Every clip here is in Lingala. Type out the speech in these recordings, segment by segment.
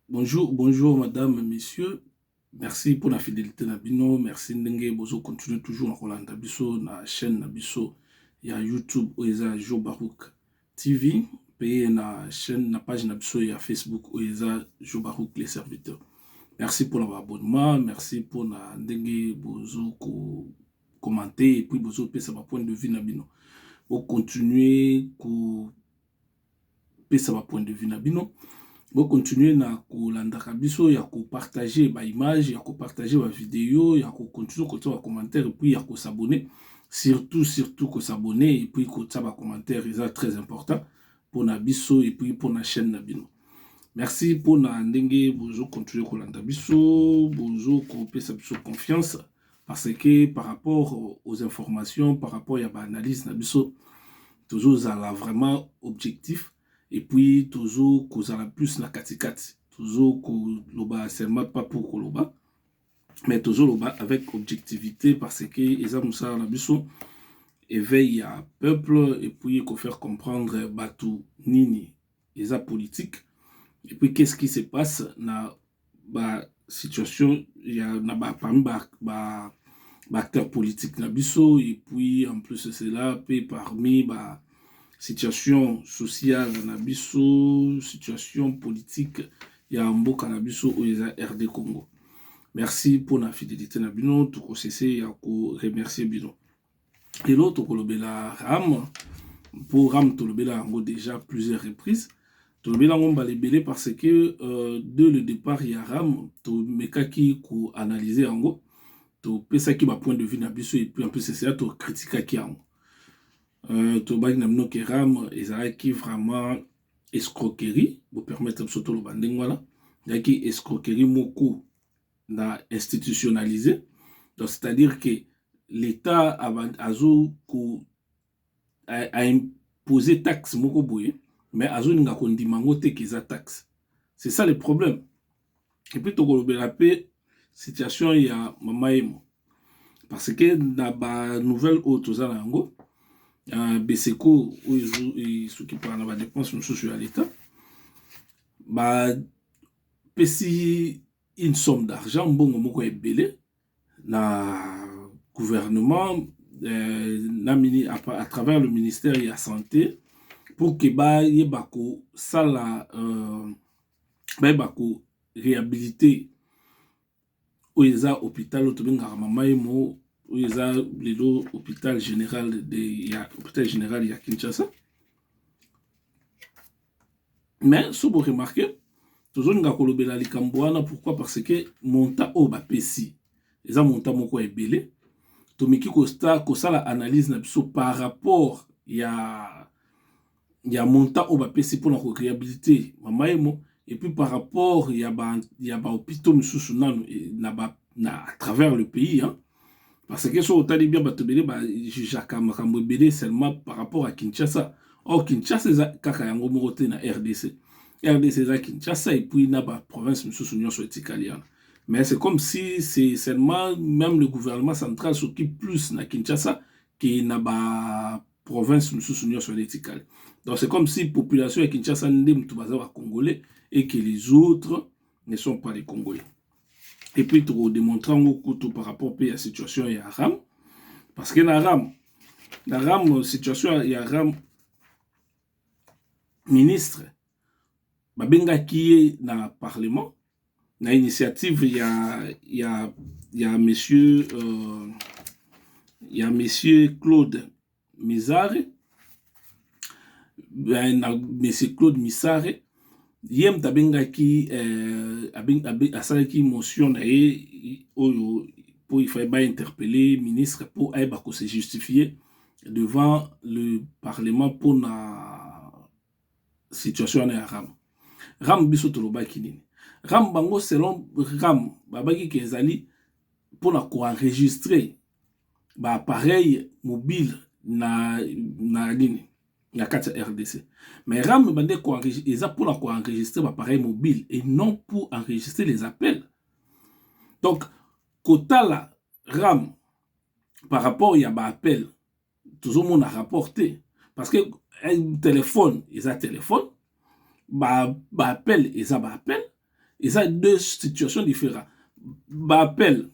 Bonjour bonjour madame monsieur merci pona fidelite na bino merci ndenge bozo continue toujours na kolanda biso na chaîne na biso ya youtube oyo eza ya jo barouk tv mpe na chaîne na page na biso ya facebook oyo eza jo barouk les serviteurs merci mpona baabonnement merci mpona ndenge bozo ko commente epuis bozopesa bapoint de vue na bino bocontinue ko pesa ba point de vue na bino bo continuer na kolandaka biso ya ko partager ba image ya ko partager ba video ya ko continuer kotia ba commentaire puis ya ko s'abonner surtout surtout ko s'abonner et puis kotia ba commentaire eza très important mpona biso et puis mpona chaîne na bino merci mpona ndenge bozo continuer kolanda biso bozo kopesa biso confiance parce que par rapport aux informations par rapport ya ba analyse na biso tozozala vraiment objectif et puis tozo kozala plus na katikati tozo koloba seulement pas pour koloba mais tozoloba avec objectivité parce que eza mosala na biso éveil ya peuple et puis kofaire comprendre bato nini eza politique et puis qu'est-ce qui se passe na ba situation ya na ba parmi ba, ba baacteur politique na biso et puis en plus de cela mpe parmi ba situation sociale na biso situation politique ya mboka na biso oyo eza rd congo merci mpona fidelité na bino tokosese ya koremercie bino lelo tokolobela ram mpo ram tolobela yango déjà plusieurs reprises tolobeli yango mbala ebele parce que euh, de le départ ya ram tomekaki koanalyse yango topesaki bapoint de vue na biso epuis en plus esea tokritikaki yango euh, tolobaki na bino ke ram ezalaki vraiment escroquerie bopermettre biso toloba ndenge wana ezalaki escroquerie moko na institutionnalise donc c'est à dire que l'etat azo ko a imposer taxe moko boye mais azolinga kondima yango te ke eza taxe c'est ça le problème epuis tokolobela mpe situation ya mama emo parce que na banouvelle oyo toza na yango uh, beseko oyo esukipaka na badepense mosusu ya leta bapesi une somme d'argent mbongo moko ebele na gouvernement euh, na mini, à, à travers le ministère ya santé pour que bayeba kosala euh, bayeba ko réhabiliter oyo eza hôpital oyo tobengaka mama emo oyo eza lelo hôpital général de ya hôpital général ya kinshasa mais so bo remarquer tozolinga kolobela likambo wana pourquoi parce que montant oyo bapesi eza montant moko ya ebele tomeki kosala analyse na biso par rapport ya ya montant oyo bapesi mpona ko réhabilite mama emo et puis par rapport ya ba ya ba hôpitaux mosusu nanu eh, na ba na à travers le pays hein Parce que soki otali bien bato ebele ba jugeaka makambo ebele seulement par rapport à Kinshasa. Or Kinshasa eza kaka yango moko te na RDC. RDC eza Kinshasa et puis na ba provinces mosusu nyonso etikali wana. Mais c'est comme si c'est seulement même le gouvernement central s'occupe plus na Kinshasa que na ba provinces mosusu nyonso wana etikali. Donc c'est comme si population ya Kinshasa nde moto baza ba Congolais et que les autres ne sont pas les Congolais. et puis toko démontrer yango kutu par rapport pe ya situation ya Aram parce que na Aram na Aram situation ya Aram ministre babengaki ye na parlement na initiative ya ya ya monsieur euh, ya monsieur Claude Mizare eh, na Monsieur Claude Misare ye moto abengaki eh, asalaki motion na ye oyo mpo ifai bainterpele ministre mpo ayeba kose justifie devant le parlement mpo na situation wana ya ram ram biso tolobaki nini ram bango selon ram babaki ke ezali mpo na koenregistre baappareil mobile na, na nini na kati ya rdc mais ram bande eza mpo na koenregistre baappareil mobile et non pour enregistrer les appels donc kotala ram par rapport ya ba appel tozomona rapport te parce que eh, téléphone eza téléphone ba, ba appel eza ba appel eza deux situations différentes ba appel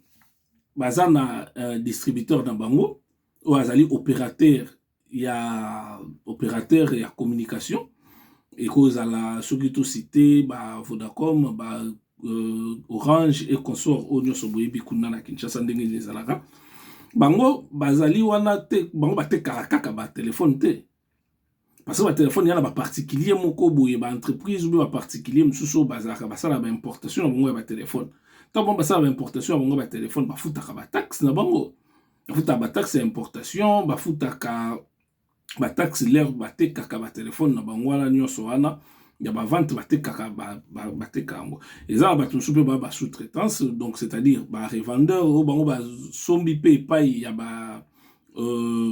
baza na euh, distributeur na bango oyo azali opérateur ya operateur ya communication ekozala soki tosite ba vodacom ba euh, orange e consort oyo nyonso boyebi kuna na kinshasa ndenge nini ezalaka bango bazali wana te bango batekaka kaka batelefone te parce que batelefone ya na baparticulier moko boye baentreprise obe baparticulier mosusu oyo bazalaka basalaka baimportation na bango ya batelefone ntango bango basalaka baimportation ya bango ya batelefone bafutaka bataxe na bango bafutaka bataxe ya importation bafutaka bataxe lere batekaka batelefone na bango wana nyonso wana ya bavante batekaka bateka yango eza na bato mosusu mpe ba ba sous-traitance donc c'est-à-dire barevendeur oyo bango basombi mpe epai ya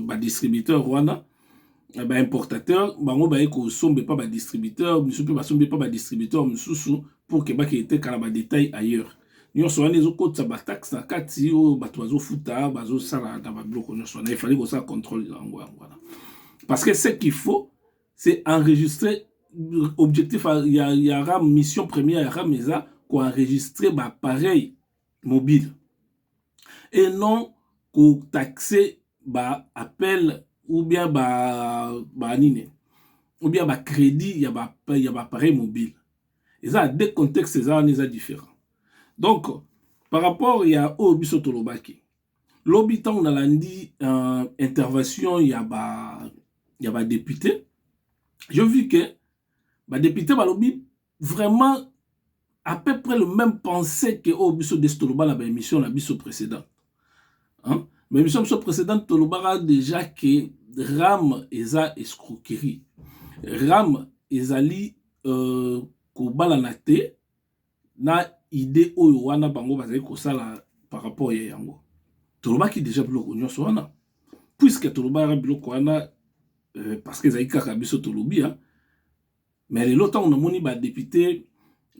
badistributeur euh, wana eh ba importateur bango baye kosomba epa badistributeur misusu mpe basomba epa badistributeur mosusu pour ke bake eteka na badetail ailleurs nyonso wana ezokotisa bataxe na kati oyo bato bazofuta bazosala na babiloko nyonso wana efali kosala contrôle yango yango wana parce que ce qu'il faut c'est enregistrer objectif ya, ya, ya ram mission première ya ram eza koenregistre baappareil mobile et non ko taxer ba appels ou bien ba ba nini ou bien ba credit ya ba ya ba appareil mobile eza deux contexte eza wana eza différent donc par rapport ya oyo biso tolobaki lobi ntango nalandi uh, intervention ya ba ya ba député je vu que ba député balobi vraiment à peu près le même pensée que oyo biso desi toloba na baémission na biso précédente hein? baémission biso précédente tolobaka déjà que rame eza escroquerie rame ezali euh, kobalana te na idée oyo wana bango bazali kosala par rapport ya yango tolobaki déjà biloko nyonso wana puisque tolobaka biloko wana euh, parce que ezali kaka biso tolobi hein? Mais lelo tango na moni ba depute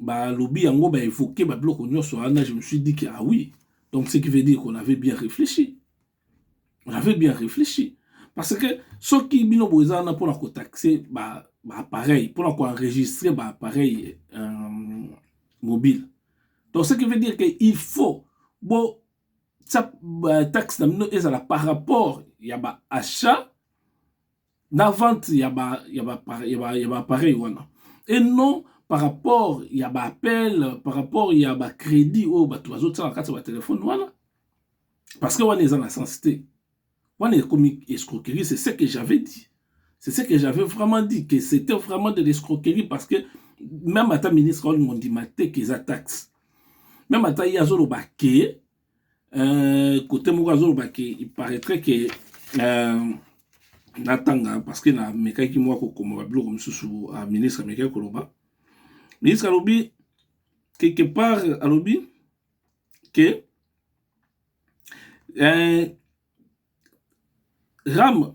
ba lobi yango ba evoquer ba biloko nionso wana je me suis dit que ah oui donc ce qui veut dire qu'on avait bien réfléchi on avait bien réfléchi parce que soki bino boza wana pona ko taxer ba ba appareil pona ko enregistrer ba appareil euh, mobile donc ce qui veut dire que il faut bo ça euh, taxe na bino ezala par rapport ya ba achat na vente ya ba ya ba ya ba, ya ba appareil wana et non par rapport ya ba appel par rapport ya ba crédit oyo bato bazotiaka kati ya ba telefone wana parce que wana eza na sens te wana ekomi escroquerie c'est ce que j'avais dit c'est ce que j'avais vraiment dit que c'était vraiment de l'escroquerie parce que même ata ministre olingo ndima te ke eza taxe même ata ye azoloba ke Euh, kote moko azoloba ke iparaîtrait ke euh, natanga parce que namekaki mwa kokoma babiloko mosusu a ministre amekaki koloba ministre alobi quelque part alobi ke euh, ram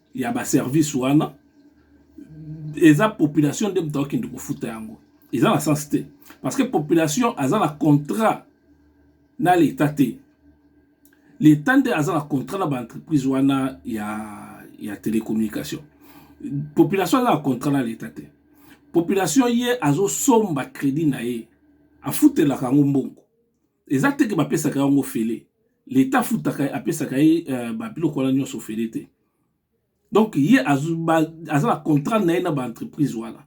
ya ba service wana eza population nde moto akokende kofuta yango eza na sens te parce que population aza na contrat na leta te leta nde aza na contrat na baentreprise wana ya, ya telecommunication population aza na contrat na leta te population ye azosomba crédit na ye afutelaka yango mbongo eza te ke bapesaka yango ofele leta afutaka apesaka ye uh, babiloko wana nyonso ofele te donc ye aza na contrat na ye na baentreprise wana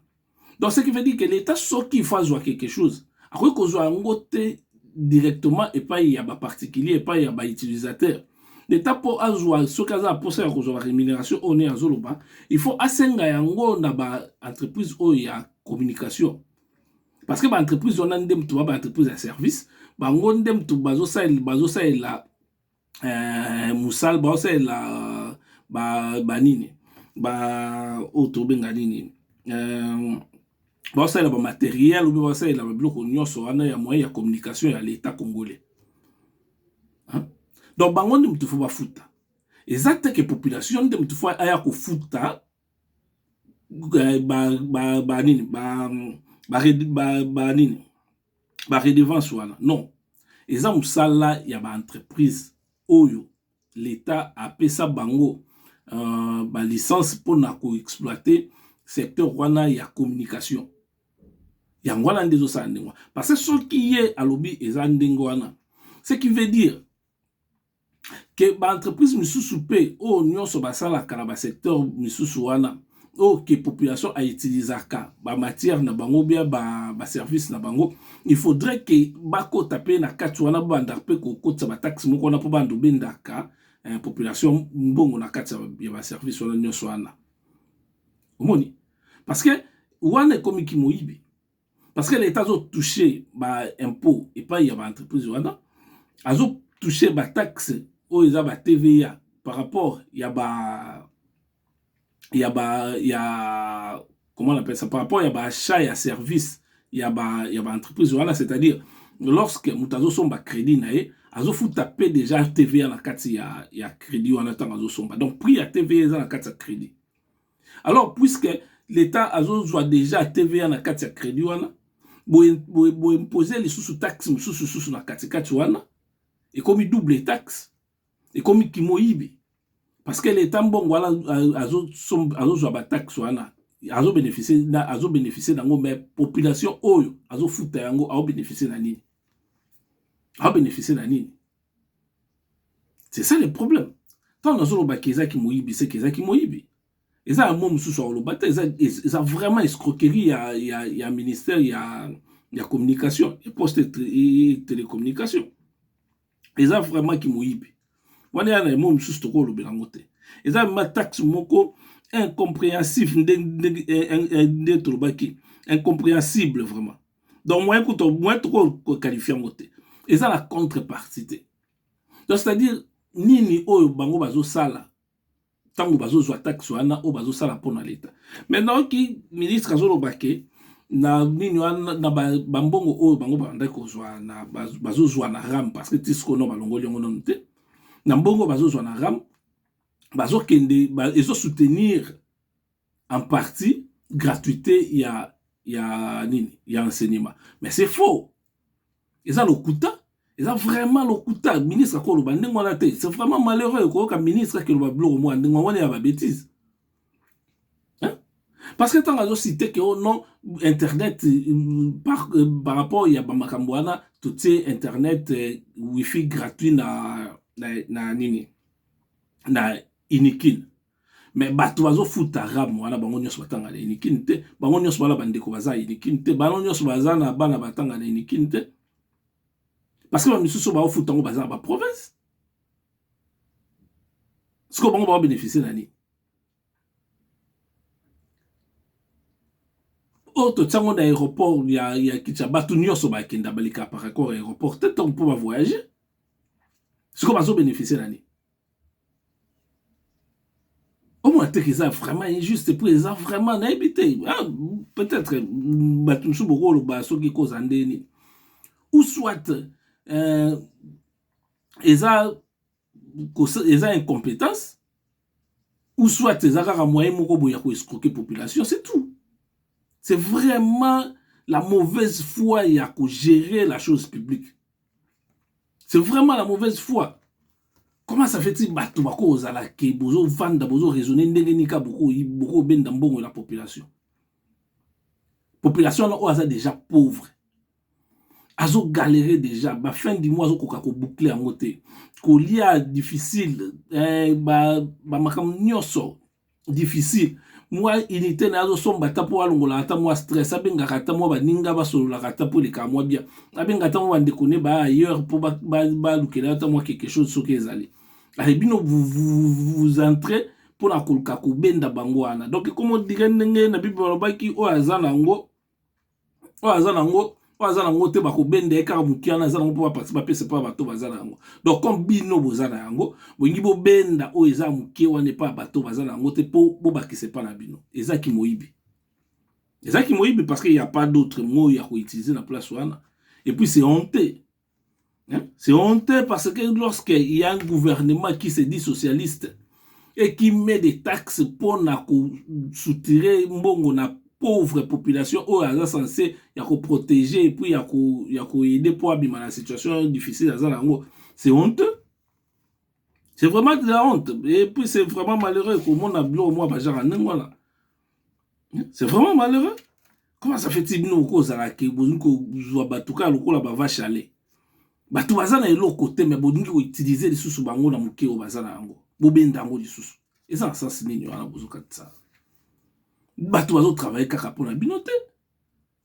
donc ce qui veut dire ke leta soki ifo azwa quelque chose akoki kozwa yango te directement epai ya baparticulier epai ya bautilisateur leta mpo azwa soki aza na mposa ya kozwa barémunération oyo nde azoloba il faut asenga yango na baentreprise oyo ya communication parce que ba entreprise wana nde mutu ba ba entreprise ya service bango nde mutu bazo salela bazo salela euh, musala bazo salela ba ba nini ba oyo oh, tobenga nini euh, bazo salela ba matériel ou bazo salela ba biloko nyonso wana ya moyen ya communication ya l'État congolais hein? donc bango nde mutu faut bafuta eza te ke population nde mutu faut aya kofuta redevance wana non eza musala ya ba entreprise oyo l'etat apesa bango ba licence pona ko exploiter secteur wana ya communication yango wana nde ezosala ndenge wana parce soki ye alobi eza ndenge wana ce qui veut dire. ke ba entreprise misusu pe oyo nionso basalaka na ba secteur misusu wana oyo ke population a utilisaka ba matière na bango ou bien ba service na bango il faudrait ke bakota pe na kati wana babanda pe kokotisa ba taxe moko wana po banda obendaka population mbongo na kati ya ba service wana nionso wana omoni parce que wana ekomi kimoyibi parce que l'État a touché ba impôts et pas il y a ba entreprises wana azo touché ba taxes oyo eza ba TVA par rapport ya ba ya ba ya comment on appelle ça par rapport ya ba achat ya service ya ba ya ba entreprises wana c'est-à-dire lorsque moto azosomba crédit na ye azofuta mpe déjà tva na kati ya, ya crédit wana ntango azosomba donc prix ya tva eza na kati ya crédit alors puisque l'État azozwa déjà TVA na kati ya credit wana boimpose lisusu taxe mosusu susu na katikati wana ekomi double taxe ekomi kimoyibi parce que l'État mbongo wana azozwa bataxe wana azobénéficie azobénéficie nango mais population oyo azofuta yango aobénéficie na nini aobénéficie na nini C'est ça le problème. Tant dans le baki eza ki moyibi, c'est eza ki moyibi. Eza ya mot mususu au lobata eza eza vraiment escroquerie ya ya ya ministère ya ya communication, et poste et télécommunication. Eza vraiment ki moyibi. Wana ya na mot mususu toko lobela ngote. Eza ma taxe moko incompréhensif nde nde nde tolobaki incompréhensible vraiment. donc moyen kutu moyen toko kokalifie yango te eza na contrepartie te donc c'est à dire nini oyo bango bazosala ntango bazozwa taxe wana oyo bazosala mpo na leta maintenant oki ministre azoloba ke na nini wana na bambongo ba oyo bango babandaki kozwa na bazozwa na ram parce que tisikono balongoli yango nanu te na mbongo bazozwa na ram bazokende ba, ezosoutenir en partie gratuité ya ya nini ya enseignement mais c'est faux eza lokuta eza vraiment lokuta ministre akoloba ndenge wana te c'est vraiment malheureux koyoka ministre akeloba biloko mwa ndenge wana ya babétise parce que ntango azosite ke o non internet euh, par, euh, par rapport ya bamakambo wana totie internet euh, wifi gratuit na, na, na nini na inikine mais bato bazofuta ram wana bango nyonso batanga na unikin te bango nyonso bana bandeko baza unikin te bango nyonso baza na bana batanga na unikin te parce que bamisusu baofuta yango baza na baprovince sikoyo bango baobénéficie na nini oyo oh, totiango na aéroport ya, ya kicha bato nyonso bakenda baleka par accord ya aéroport te ntango mpo bavoyage sikoyo bazobénéficie na nini omona teke eza vraiment injuste po eza vraiment nayebi te ah, peut-être mm, bato mosusu bokoloba soki koza nde nini ou soit euh, eza eza incompétence ou soit eza kaka moyen moko boye ya koescroke population c'est tout c'est vraiment la mauvaise foi ya kogérer la chose publique c'est vraiment la mauvaise foi comment ça fait-il bato bakozala ke bozovanda bozoraisonne ndenge nini ka bokobenda mbongo na population population wana oyo aza déjà pauvre azogalere déjà bafin du mois azokoka koboucle yango te kolia difficile eh, bamakambo ba nyonso difficile mwa unité na ye azosomba ata mpo alongola ata mwa stress abengaka ata mwa baninga basololaka ata mpo eleka mwa bien abenga ata mwa bandeko ne baya ailleurs mpo balukela ye ata mwa quelque chose soki ezali aye bino vous entre mpo na koluka kobenda bango wana donc ekomodire ndenge na bible balobaki oyo aza na yango oyo aza na yango oyo aza na yango te bakobenda ye kaka motu wana aza na yango mpo bapasi bapesa mpo ya bato baza na yango donc comme bino boza na yango bolingi bobenda oyo eza moke wana epa ya bato baza na yango te mpo bobakisa epa na bino eza kimoyibi eza kimoyibi parce que ya pas d'autre moyo ya koutilize na place wana epuis se honte Hein? C'est honteux parce que lorsque il y a un gouvernement qui se dit socialiste et qui met des taxes pour na soutirer mbongo na pauvre population oyo aza censé ya ko protéger et puis ya ko ya ko aider pour abima na situation difficile aza nango c'est honteux c'est vraiment de la honte et puis c'est vraiment malheureux komona bio mwa bajara ndenge wana c'est vraiment malheureux comment ça fait bino okozalaka bolingi kozwa bato kaka lokola bava chale bato baza na eloko te me bolingi koutilize lisusu bango na moke oyo baza na yango bobenda yango lisusu eza na sense nini wana bozokatisa bato bazotravaille kaka mpo na bino te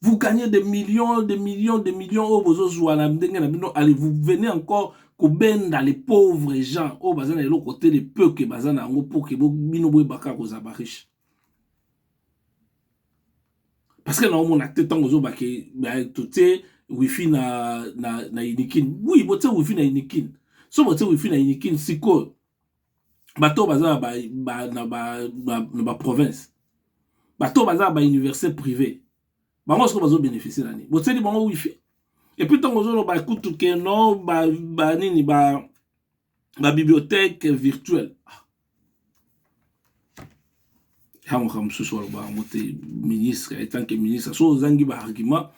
vous gagnez des millions des millions des millions oyo bozozwa na ndenge na bino allez vous venez encore kobenda les pauvres gens oyo baza na eloko te le peu ke baza na yango mpo ke bino boyebaka kozala bariche parce que naomona te ntango ozobake totie wifi na, na, na unikin oui botie wifi na unikin so botie wifi na unikin sikoyo bato oyo baza na baprovince bato oyo baza na bauniversité privé bango soko bazo bénéficie na nini botieli bango wifi epuis ntango ozoloba kutu ke no banini ba, ba, ba bibliothèque virtuelle ah. yango makambo mosusu aloba yango te ministre etant ke ministre so ozangi baargument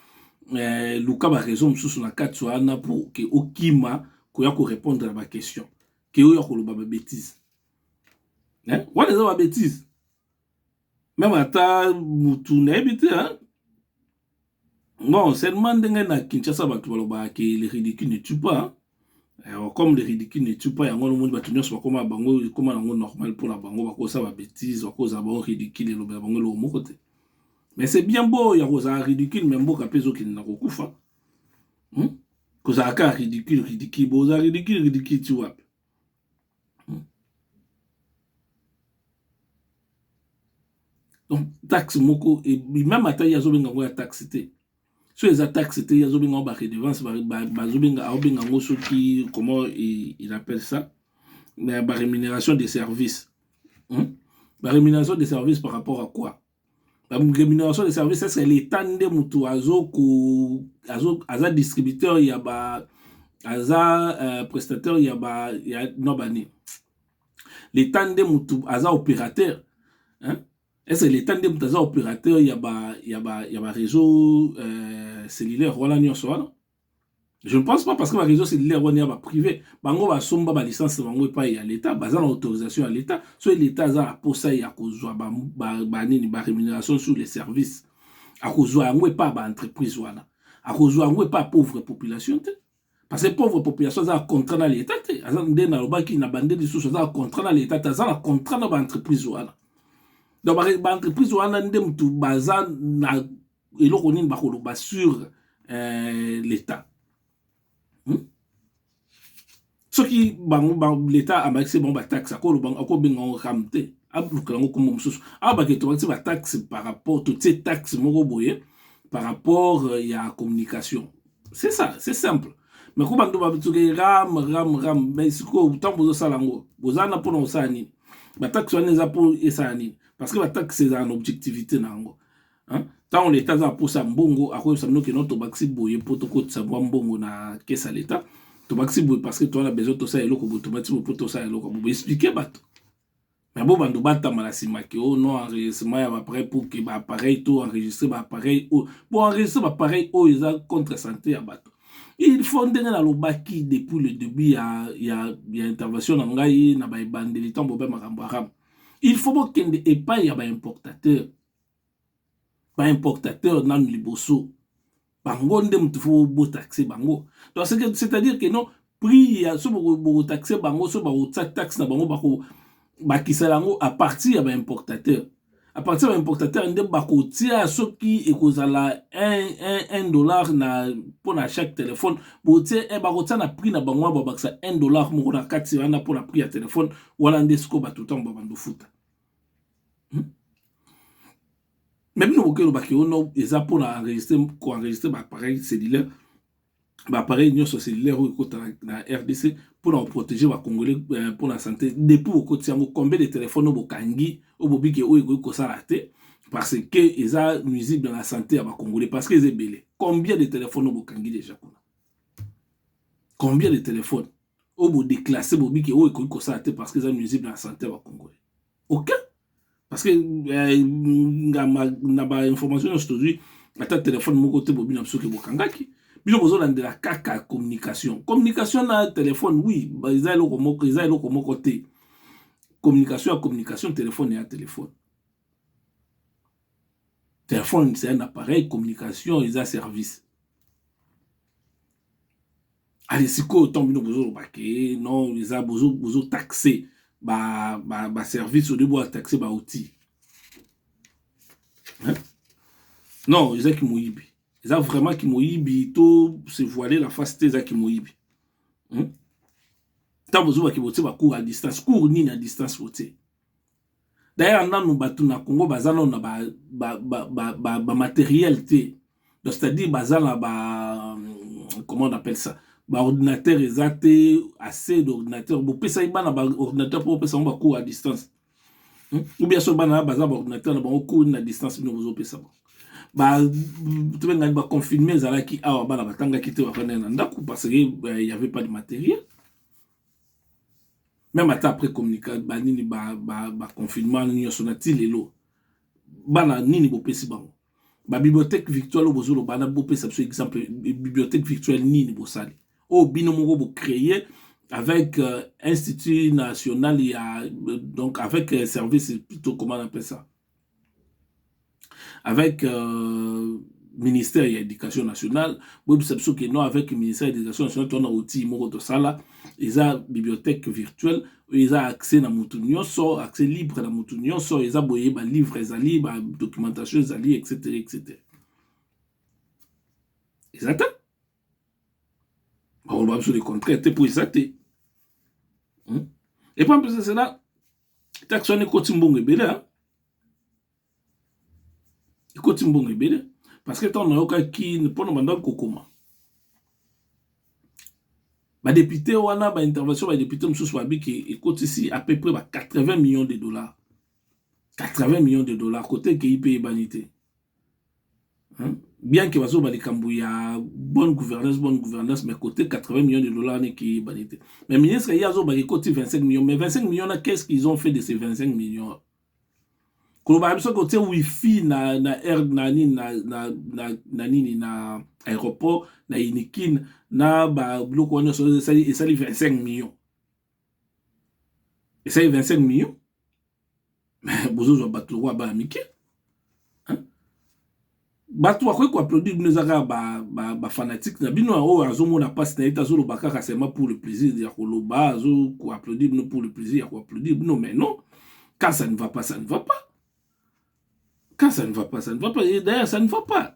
eh, luka baraison mosusu na kati wana pour ke okima koya korépondre na baquestion ke oyo akoloba ba betise eh? wana eza ba betise meme ata mutu nayebi te hein? bon seulement ndenge na kinshasa bato balobaka ke le ridicule ne tue pas Alors, comme le ridicule ne tue pas yango nomoni bato nyonso bakoma bango ekoma yango normal mpo na bango bakosa ba betise bakozala bango ridicule elobela bango eloko moko te mais c'est bien beau ya kozala ridicule mais mboka mpe ezokende na kokufa hmm? kozala kaka ridicule ridicule boza ridicule ridicule ti wapi hmm. donc taxe moko meme ata ye azobenga yango ya taxe te so eza taxe te ye azobenga yango baredevance bazobenga aobenga yango soki comment il appelle ça mais barémunération de service hmm? barémunération de service par rapport à quoi ba rémunération de service est-ce que l'État nde mutu azo ko azo aza distributeur ya ba aza euh, prestataire ya ba ya non ba ni l'État nde mutu aza opérateur hein est-ce que l'État nde mutu aza opérateur ya ba ya ba ya ba réseau euh, cellulaire wana nyonso wana je ne pense pas parce que ba réseaux cellulaires wana ya ba privé bango basomba ba licence na bango epai ya leta baza na autorisation ya leta soki leta aza na posa ya kozwa banini ba rémunération sur les services akozwa yango epai ba entreprise wana akozwa yango epai pauvre population te parce que pauvre population aza na contrat na leta te aza nde nalobaki na bande lisusu aza na contrat na leta te aza na contrat na ba entreprise wana donc ba entreprise wana nde motu baza na eloko nini bakoloba sur euh, l'État hmm? soki bango ba, l'État abakisi bango bataxe akobenga yango ram te alukela yango nkombo mosusu awa bake tobakisi bataxe par rapport totie taxe moko boye par rapport euh, ya communication c'est ça c'est simple mais ko bantu babituke ram ram ram mais sikoyo ntango bozosala yango boza na mpona kosala nini bataxe wana eza mpo esala nini parce que bataxe ezala na objectivité na yango ntango leta aza na mposa ya mbongo akoyebisa bino kino tobakisi boye mpo tokotisa mwa mbongo na kesa leta tobakisi boye parce que toza na besoin tosala eloko boye tobakisi boye mpo tosala eloko boye boexplike bato me bo bando batama na nsima ke o oh no enregistrement ya baappareil pour ke baappareil to enregistre baappareil oyo bo enregistre baappareil oyo eza contre santé ya bato il faut ndenge nalobaki depuis le début ya, ya, ya intervention na ngai na baebandeli ntango bobe makambo arabe il faut bokende epai ya baimportateur ba importateur nanu liboso bango nde mutu faut bo taxe bango donc c'est à dire que non prix ya so boko taxe bango so bako tia taxe na bango bako bakisa yango à partir ya ba importateur à partir ya ba importateur nde bako tia soki ekozala 1 1 dollar na pona chaque téléphone bo tia eh, bako tia na prix na bango ba bakisa 1 dollar moko na kati wana pona prix ya téléphone wana nde siko bato tango ba bando futa hmm? mais bino boke elobaki ono eza mpo na enregistre koenregistre baappareil cellulaire baappareil nyonso cellulaire oyo ekota na rdc mpo na koprotege bacongolais euh, mpo na sante depuis okoti yango combien de telefone oyo bokangi oyo bobiki oyo ekoki kosala te parce que eza nuisible na sante ya bacongolais parce que eza ebele combien de telefone oyo bokangi deja kuna combien de telefone oyo bodeklasse bobiki oyo ekoki kosala te parce que eza nuisible na sante ya bacongolais ok parce que eh, na ba information nyonso tozwi ata telefone moko te bobi na biso ke bokangaki bino bozolandela kaka communication communication na telefone oui eza eloko moko eza eloko moko te communication ya communication telefone ya telefone Telephone c'est un appareil communication eza service ale sikoyo ntango bino bozoloba ke non eza bozotaxe baservice ba, ba olie boataxe baoutil non eza kimoyibi eza vraiment kimoyibi to se voiler la face te eza kimoyibi ntango hmm? bozobaki botie bacour à distance cour nini à distance botie D'ailleurs nanu batu na Congo baza nanu na ba ba ba ba, ba, ba matériel te. Donc c'est-à-dire baza na ba comment on appelle ça ba ordinateur eza te assez d'ordinateur bopesaki bana ba ordinateur mpo bopesa bango bacours à distance hmm? ou bien soki bana baza ba ordinateur na bango cours na distance bino bozopesa bango ba tobengani ba confinement ezalaki awa bana batangaki te bafandaki na ndako parce que euh, il y avait pas de matériel meme ata après communica banini baconfinement ba nyonso na ti lelo bana nini bopesi bango babibliothèque virtuelle oyo bozoloba na bopesa biso exemple bibliothèque virtuelle nini bosali oyo bino moko bocreye avec euh, institut national ya euh, donc avec euh, service plutôt comment on appelle ça avec euh, ministère ya éducation nationale boyebisa biso ke non avec ministère ya éducation nationale tona outil moko tosala eza bibliothèque virtuelle oyo eza accès na motu nyonso accès libre na motu nyonso eza boye balivre ezali badocumentation ezali etc etc eza te bakoloba biso le contraire te mpo eza te hmm? epa mpesa cela taxe wana ekoti mbongo ebele ekoti mbongo ebele parce que ntango nayokaki mpona bandaki kokoma badepute wana baintervention badepute mosusu babiki ekotisi à peu près ba 80 millions de dollars 80 millions de dollars kote ekei mpe eyebani te bien que bazoba likambo ya bonne gouvernance bonne gouvernance mais côté 80 millions de dollars n'est qui banité mais ministre il y a zoba qui cote 25 millions mais 25 millions là qu'est-ce qu'ils ont fait de ces 25 millions koloba biso côté wifi na na air na nini na na na na nini na aéroport na unikin na ba biloko wana esali 25 millions esali 25 millions bozozwa bato lokola bana mike bato bakoki koapplaudire bino eza kaka bafanatike ba, ba na bino oyo azomona mpasi na ye te azoloba kaka seulement pour le plaisir ya koloba azo koapplaudire bino pour le plaisir ya koapplaudire bino mais non quand ça ne va pas ça ne va pas quand ça ne va pas ça ne va pas et d'ailleurs ça ne va pas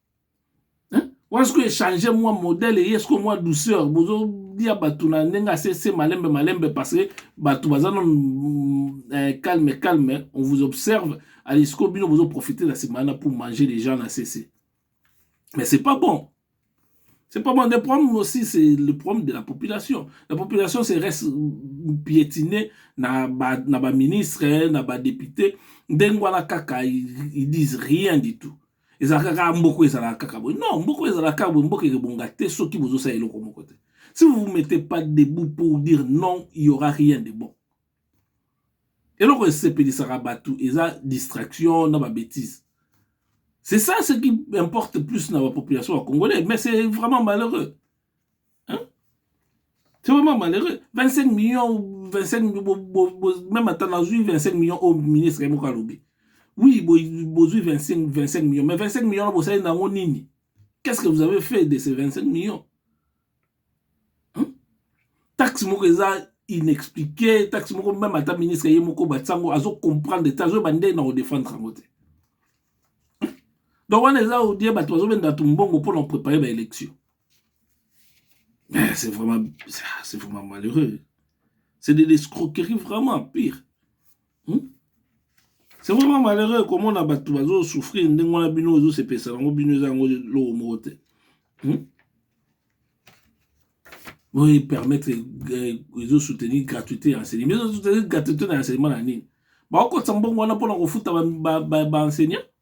hein wana sikoyo echange mwa modele eye sikoyo mwa douceur bozolia bato na ndenge asese malembe malembe parce que bato baza nano mm, eh, calme calme on vous observe ali sikoyo bino bozoprofite na nsima wana pour manger les gens na sese mais c'est pas bon C'est pas bon. Le problème aussi, c'est le problème de la population. La population se reste piétinée na ba, na ba ministre, na ba député. Dengwana kaka, ils, ils disent rien du tout. ezalaka kaka mboko ezalaka kaka boye non mboko ezalaka kaka boye mboko ekebonga te soki bozosala eloko moko te si vous vous mettez pas debout pour dire non il y aura rien de bon eloko esepelisaka bato eza distraction na babétise c'est ça ce qui importe plus na bapopulation ya congolais mais c'est vraiment malheureux hein? c'est vraiment malheureux 25 millions 25 millions bo, bo, bo, même ata nazwi 25 millions oyo ministre ye moko alobi oui bozwi 25, 25 millions mais 25 millions na bosali na yango nini qu'est-ce que vous avez fait de ces 25 millions hein? taxe moko eza inexpliqué taxe moko meme ata ministre ye moko batisa yango azo comprendre te azoyeba ndenge na kodefendre yango te donc wana eza odie bato bazobenda bato mbongo mpo na koprepare baélection Mais c'est vraiment, c'est vraiment malheureux. C'est de l'escroquerie vraiment pire. Hmm? C'est vraiment malheureux comment on a battu bazo souffrir ndenge wana bino ozo se pesa nango bino eza yango loko moko te. Hmm? Boye permettre ezo euh, soutenir gratuité ya enseignement. Mais ezo soutenir gratuité na enseignement na nini? Bakokotisa mbongo wana mpo na kofuta ba, ba, ba, ba enseignant?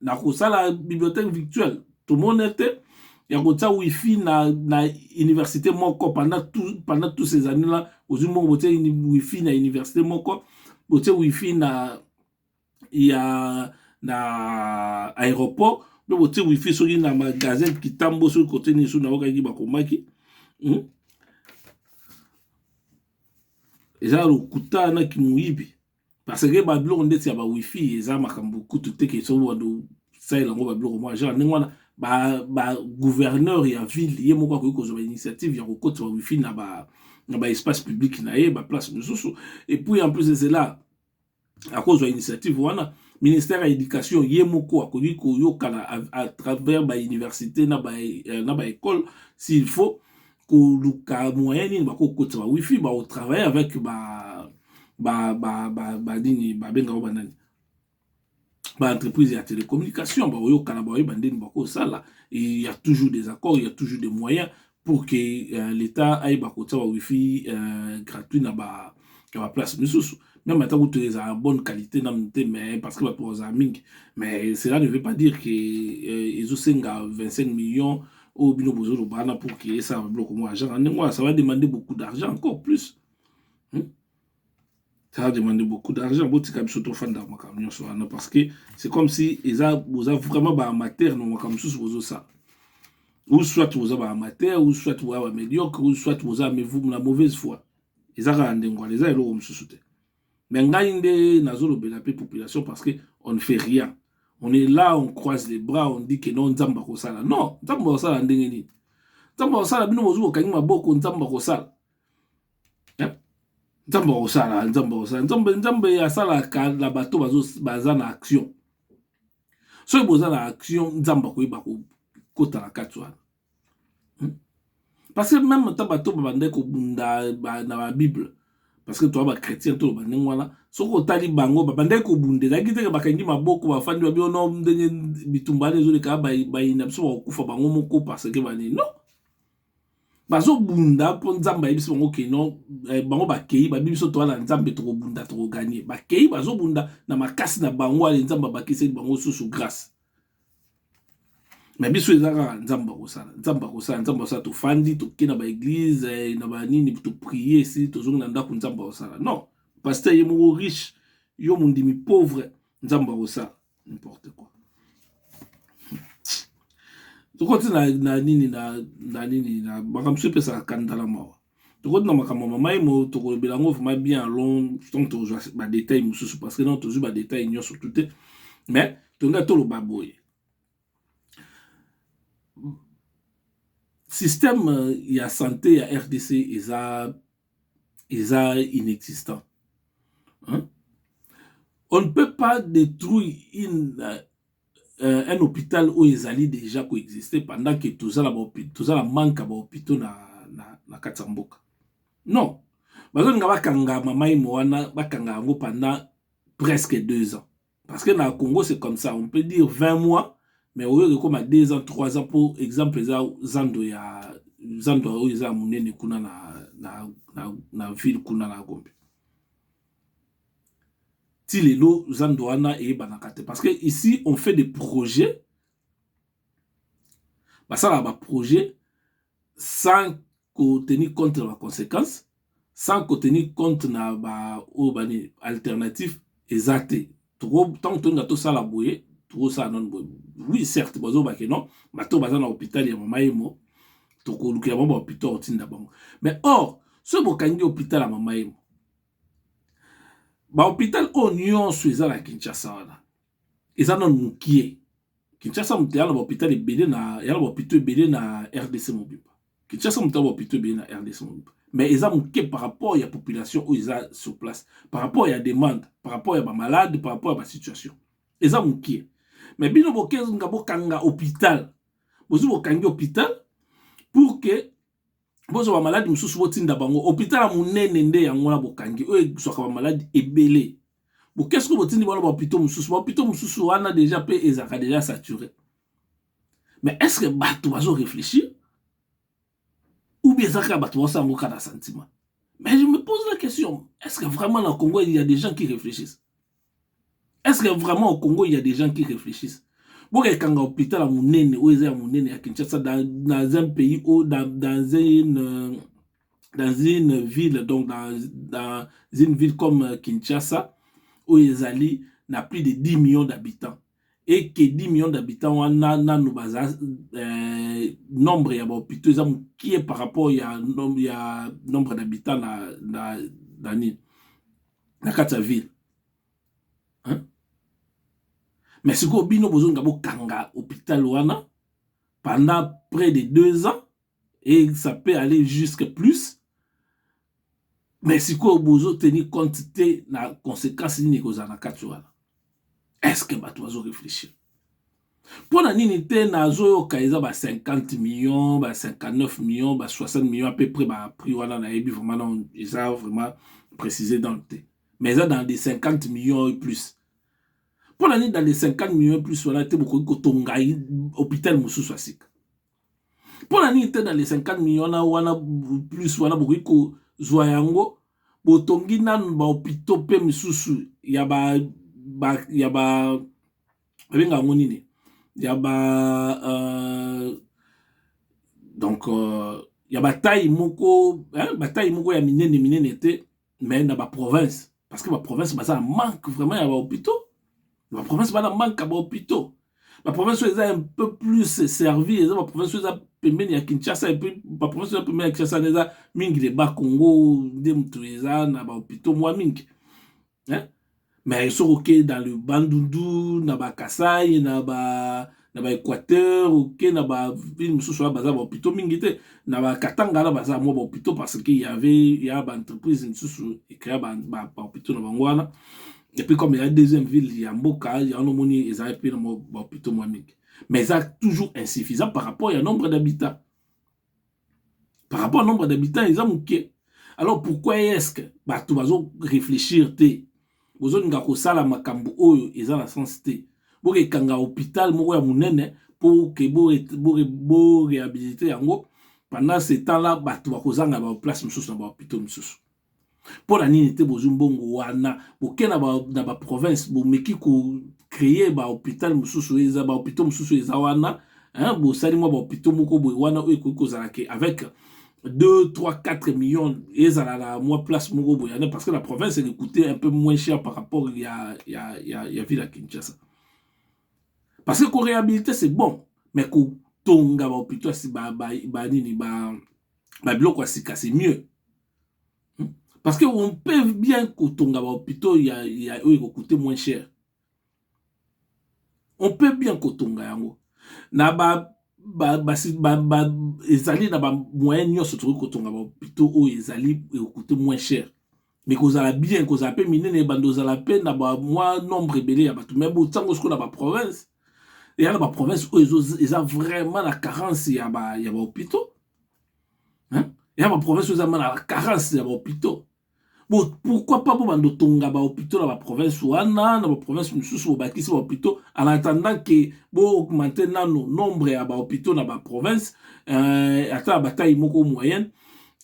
na kosala bibliothèque virtuelle tomoni te ya kotia wifi na, na université moko pendant tout, pendant tous ces années là ozwi mbongo botie wifi na université moko botie wifi na ya na aéroport mpe botie wifi soki na magasin kitambo soki kote nini soki naokaki bakomaki hmm? eza lokuta na kimoyibi parce que ba biloko ndeti ya ba wifi eza makambo kutu te ke soki bando salela yango ba biloko mwa genre ndenge wana ba ba gouverneur ya ville ye moko akoki kozwa ba initiative ya kokotisa ba wifi na ba na ba espace public na ye ba place mosusu et puis en plus ezela akozwa initiative wana ministère ya éducation ye moko akoki koyokana à travers ba université na ba na ba école s'il faut koluka moyen nini bakokotisa ba wifi baotravaille avec ba ba ba ba ba nini babenga ngo banani ba entreprise ya télécommunication baoyokana baoyeba ndeni bakosala il y a toujours des accords il y a toujours des moyens pour que euh, l'état ayeba kotia ba wifi euh, gratuit na ba ya baplace misusu meme ata kutu ezala bonne qualité na mute mais parce que bato bazala mingi mais cela ne veut pas dire que euh, ezosenga 25 millions oyo bino bozoloba wana pour ke esala biloko mwa argent na ndenge wana ça va demander beaucoup d'argent encore plus hmm? ça va demander beaucoup d'argent botika biso tofanda makambo nyonso wana parce que c'est comme si eza boza vraiment baamateur na makambo mosusu bozosala ou soit boza baamateur ou soit boza bamédiocre ou soit boza na mauvaise foi eza kaka ndenge wana eza eloko mosusu te Mais ngai nde nazolobela pe population parce que on ne fait rien. On est là, on croise les bras, on dit que non, Nzambe akosala. Non, Nzambe akosala ndenge nini? Nzambe akosala bino bozuko kangi maboko, Nzambe akosala. Eh? Nzambe akosala, Nzambe akosala. Nzambe Nzambe asala ka la bato bazo baza na action. Soki boza na action, Nzambe akoyeba ko kota na kati wana. Parce que meme ata bato oyo babandaki kobunda na ba bible parce que toza ba chretien toloba ndenge wana soki otali bango babandaki kobunda ezalaki te ke bakangi maboko bafandi babio no ndenge bitumba wana ezoleka bayi na biso bakokufa bango moko parce que ba nini non bazobunda po nzambe ayebisi bango ke non bango bakeyi bayebi biso toza na nzambe tokobunda toko gagne bakeyi bazobunda na makasi na bango ale nzambe abakiseli bango susu grace na biso eza kaka nzambe akosala nzambe akosala nzambe akosala tofandi toke na baeglize eh, na banini toprie esili tozongi na ndako nzambe akosala non paster ye moko riche yo mondimi pauvre nzambe akosala n'importe quoi tokoti na, na nini na, na nini na makambo so epesaka kandala mawa tokoti na makambo ya mama emo tokolobela yango vraiment bien long donc tokozwa badetail mosusu parce que non tozwi badetail nyonso tu te mais tolingai toloba boye système euh, ya santé ya rdc eza eza inexistant hein? on ne peut pas détruire une euh, euh, un hôpital oyo ezali déjà ko exister pendant que toza na toza na manque ya ba hôpitaux na na, na kati ya mboka non bazolinga bakanga mama imo wana bakanga yango pendant presque deux ans parce que na congo c'est comme ça on peut dire 20 mois mais oyo ekoma 2 ans 3 ans mpo exemple eza zando ya zando oyo eza ya monene kuna na, na, na, na ville kuna na gombe ti lelo zando wana eyebanaka te parce que ici on fait des projets basalaka ba projet sans ko tenir compte na ba consequence sans ko tenir compte na ba oyo ba nini alternative eza te toko ntango tolinga tosala boye tokosala nano boye oui certes bazoba ke non bato baza na hôpital ya mama yemo tokolukela bango ba hôpital otinda bango mais or soki bokangi hôpital ya mama yemo Ba hopital oyo nionso eza na Kinshasa wana eza nanu mukie. Kinshasa mutu aya na ba hopital ebele na aya na ba hopitaux ebele na rdc mobimba. Kinshasa mutu aya na ba hopitaux ebele na rdc mobimba mais eza mukie par rapport ya population oyo eza sur place, par rapport ya demande, par rapport ya ba malades, par rapport ya ba situations eza mukie. Mais bino bokezinga bokanga hopital, bozwi bokangi hopital pour que. bozwa bamaladi mosusu botinda bango hopital ya monene nde yango wana bokangi oyo ezwaka bamaladi ebele boke soki botindi bana bahopito mosusu bahopito mosusu wana deja mpe ezalaka deja sature mais est ce que bato bazo réfléchir ou bien ezalaka ya bato baosala yango kaka na sentiment mais je me pose la question est ce que vraiment na congo il y a des gens qui réfléchissent est ce que vraiment au Congo il y a des gens qui réfléchissent bokeke kanga hôpital ya monene oyo eza ya monene ya Kinshasa dans, dans un pays ou dans, dans une euh, dans une ville donc dans, dans une ville comme euh, Kinshasa oyo ezali na plus de 10 millions d'habitants et que 10 millions d'habitants wana nanu baza euh, nombre ya bahôpitaux eza mokie par rapport ya, nom, ya nombre d'habitants na, na, na nini na kati ya ville hein? mais sikoyo bino bozolinga bokanga hôpital wana pendant près de deux ans et ça peut aller jusque plus mais sikoyo bozo tenir compte te na conséquence nini ekozala na kati wana eske bato bazo réfléchir mpo na nini te nazoyoka eza ba 50 millions ba 59 millions ba 60 millions à peu près ba prix wana nayebi vraiment non eza vraiment précisé dans le te mais eza dans des 50 millions et plus mpo na nini dans des 50 millions et plus wana te bokoki kotonga hôpital mosusu ya sika mpo na nini te na le 50 million na wana plus wana bokoki kozwa yango botongi nanu bahopitaux mpe misusu ya ba, ba ya ba babenga yango nini ya ba uh, donc uh, ya bataille moko hein, bataille moko ya minene minene te mais na ba province parce que ba province baza na manque vraiment ya ba hôpitaux ba province bana manque ya ba hôpitaux ba province oyo eza un peu plus servi eza ba province oyo eza pembeni ya kinshasa epuis ba province oyo pembeni ya kinshasa nde eza mingi le bas congo nde moto eza na ba hôpitaux mwa mingi eh? mais soki oke dans le bandundu na ba kasai na ba na ba équateur oke na ba ville mosusu wana baza ba hôpitaux mingi te na ba katanga wana baza mwa ba hôpitaux parce que il y avait il y a ba entreprise mosusu ecrea ba, ba, ba hôpitaux na bango wana et puis comme ya deuxième ville ya mboka yango omoni ezali mpe na ba hôpitaux mwa mingi mais eza toujours insuffisant par rapport ya nombre d'habitants par rapport à nombre d'habitants eza moke alors pourquoi est-ce que bato bazo réfléchir te bozolinga kosala makambo oyo eza na sens te bokekanga hôpital moko ya monene mpo ke boréhabilite yango pendant ce temps là bato bakozanga baplace mosusu na bahôpitaux mosusu mpo na nini te bozwi mbongo wana boke na ba, na ba province bomeki ko créer ba hôpital mosusu eza ba hôpitaux mosusu eza wana hein, bosali mwa ba hôpitaux moko boye wana oyo ekoki kozala ke avec 2, 3, 4 millions ezala na mwa place moko boye ane parce que la province elle coûtait un peu moins cher par rapport ya, ya, ya, ya ville ya Kinshasa parce que koréhabiliter c'est bon mais kotonga bahôpitaux ba, ba, ba nini ba, ba biloko ya sika c'est mieux Parce que on peut bien kotonga ba hôpitaux ya, ya oyo ekokute moins cher. On peut bien kotonga yango na ba ba, ba, ba, ba ezali na ba moyen nyonso tokoki kotonga ba hôpitaux oyo ezali ekokute moins cher mais kozala bien kozala mpe minene ebanda ozala mpe na ba mwa nombre ebele ya bato mais botango sikoyo na ba province eya na ba province oyo eza vraiment na carence ya ba, ya ba hôpitaux hein? ya ba province oza mana la carence ya ba hôpitaux bo pourquoi pas bo bando tonga ba hôpitaux na ba province wana na ba province mosusu bobakisi ba hôpitaux en attendant que bo augmenter nano nombre ya ba hôpitaux na ba province euh, ata ya bataille moko moyenne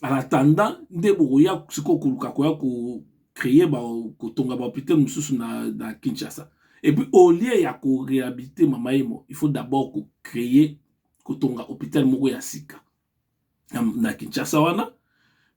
en attendant nde bokoya sikoyo koluka koya ko créer ba kotonga ba hôpitaux mosusu na, na Kinshasa et puis au lieu ya ko réhabiliter mama emo il faut d'abord ko créer kotonga hopital moko ya sika na kinshasa wana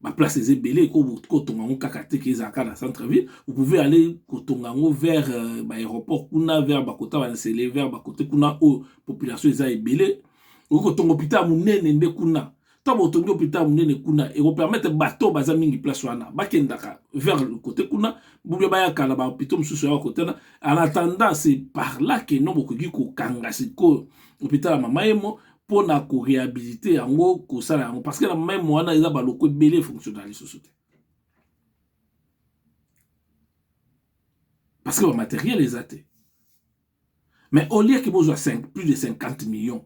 baplace eza ebele kotonga yango kaka te ke ezalaka na centre ville vous pouvez aller kotonga yango vers euh, baaéroport kuna vers bakota bansele vers bakote kuna oyo population eza ebele okoki kotonga hopital monene nde kuna ntango otongi hôpital monene kuna ekopermettre bato baza mingi place wana bakendaka vers le côté kuna boubia bayaka na bahôpitaux mosusu yaka kotana en attendant c'est par là que no bokoki kokanga sikoyo hôpital ya mama emo mpo na korehabilite yango kosala yango parce que na mama emo wana eza baloko ebele efonctionna lisusu te parce que bamateriel eza te mais au lieu ke bozwa plus de 50 millions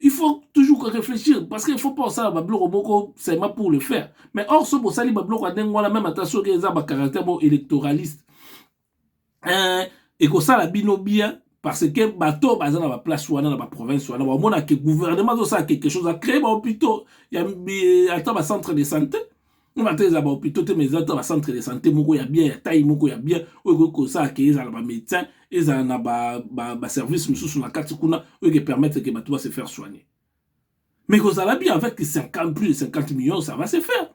il faut toujours ko réfléchir parce que il faut pas osala ba biloko moko seulement pour le faire mais or soki osali ba biloko ya ndenge wana meme ata soki eza ba caractère moko électoraliste euh, ekosala bino bien parce que bato baza na ba place wana na ba province wana bamona ke gouvernement azosala quelque chose acree ba hôpitaux ya ata ba centre de santé na bantaka eza bahopitaux te mais eza ta bacentre de santé moko ya bien ya tai moko ya bien oyo ekoki kosala ke ezala bamédecin ezala na baservice mosusu na kati kuna oyo ke permettre ke bato base faire soigner mais kozala bien avec 50 plus de 50 millions ça va se faire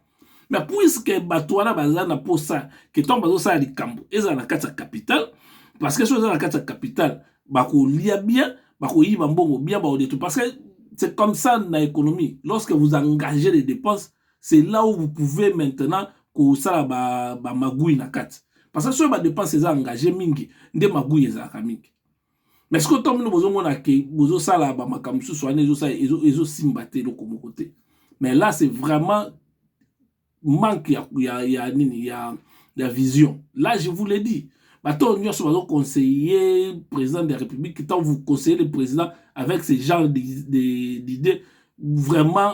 mais puisque bato wana baza na mposa ke ntango bazosala likambo ezala na kati ya capital parce que soki eza na kati ya capital bakolia bien bakoyiba mbongo bien baodetu parce que c'est comme ça na économie lorsque vous engagez les dépenses c'est là où vous pouvez maintenant kosala ba, ba magouille na kati parce que soki ba dépense eza engage mingi nde magouille ezalaka mingi mais sikoyo ntango bino bozomona ke bozosala bamakambo mosusu wana ezosimba te eloko moko te mais là c'est vraiment manque ya, ya, ya nini ya, ya vision là je vous l'ai dit bato oyo nyonso bazoconseille président de la république ntango vous conseillez le président avec ce genre d'idée vraiment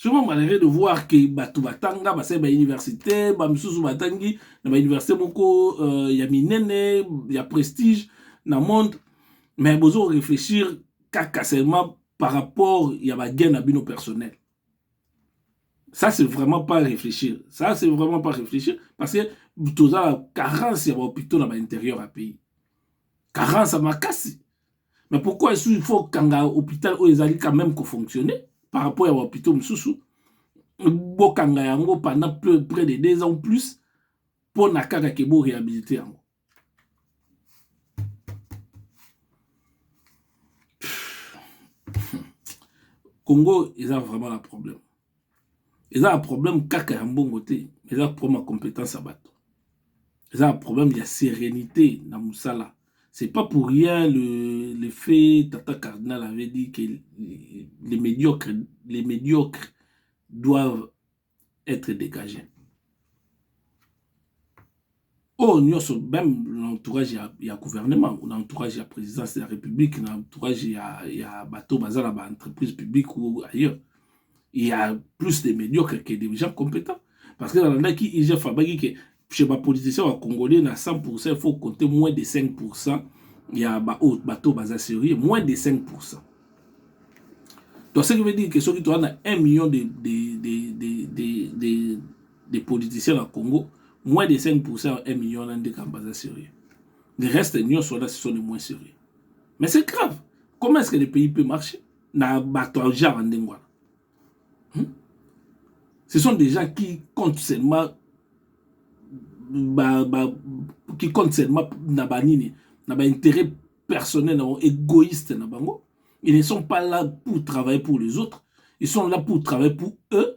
Souvent malheureux de voir que bato batanga basali ba université ba misusu batangi na ba université moko euh, ya minene ya prestige na monde mais bozo ko réfléchir kaka seulement par rapport ya ba gain na bino personnel ça c'est vraiment pas réfléchir ça c'est vraiment pas réfléchir parce que toza na carence ya ba hôpitaux na ba intérieur ya pays carence ya makasi mais pourquoi esu il faut kanga hôpital oyo ezali quand même ko fonctionner par rapport ya hôpitaux mosusu bokanga yango pendant près de deux ans plus mpo na kaka ke bo réhabilite yango congo eza vraiment na problème eza na problème kaka ya mbongo te eza problème ya compétence ya bato eza na problème ya sérénité na mosala c'est pas pour rien le, le fait tata cardinal avait dit que les médiocres, les médiocres doivent être dégagés oyo nyonso meme na entourage ya, ya gouvernement na entourage ya présidence ya république na entourage ya, ya bato baza na baentreprise publique ou ailleurs il y a plus de médiocres que des gens compétents parce que nalandaki igf abaki ke chez bapoliticien ya congolais na 100 pourcent il faut compter moins de 5 pourcent ya baoyo bato baza sérieux moins de 5 pourcent donc ce qui veut dire que soki toza na 1 million de, de, de, de, de, de des politiciens na Congo, moins de 5% ya 1 million wana nde kamba aza sérieux. Le reste nyonso wana ce sont les moins sérieux. Mais c'est grave. Comment est-ce que le pays peut marcher na bato ya genre ndenge wana? Hmm? Ce sont des gens qui comptent seulement ba, ba, qui comptent seulement na ba nini, na ba intérêt personnel, na égoïste na bango. Ils ne sont pas là pour travailler pour les autres. Ils sont là pour travailler pour eux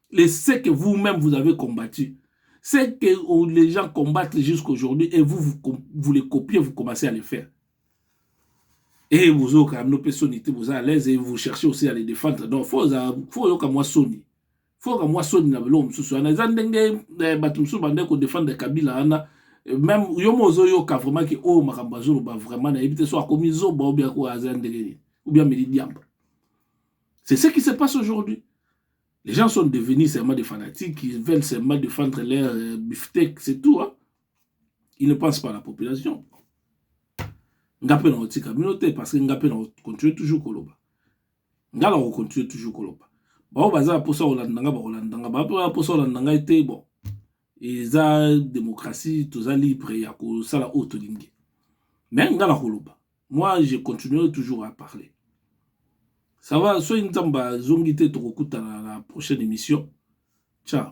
le ce que vous même vous avez combattu ce que oh, les gens combattent jusqu'aujourd'hui et vous, vous vous les copiez vous commencez à le faire et vous avez quand même soni te vous à l'aise et vous cherchez aussi à les défendre donc faut faut yoka moi soni faut que moi soni na biloko mosusu wana eza ndenge eh, bato mosusu bandeki kodefendre kabila wana même yo mo ozoyoka vraiment ke oyo oh, makambo azoloba vraiment nayebi te so akomi zoba obia ko aza ndenge nini obia meli diamba c'est ce qui se passe aujourd'hui Les gens sont devenus seulement des fanatiques, ils veulent seulement défendre leur euh, beefsteak, c'est tout. Hein? Ils ne pensent pas à la population. Ngapé na otika communauté parce que ngapé na continue toujours koloba. Ngala on continue toujours koloba. Ba o baza posa olanda nga ba olanda nga ba posa olanda nga été bon. eza démocratie toza libre ya kosala oyo tolingi mais nga nakoloba moi je continuerai toujours à parler ça va soki nzambe azongi te tokokutana na prochaine émission ciao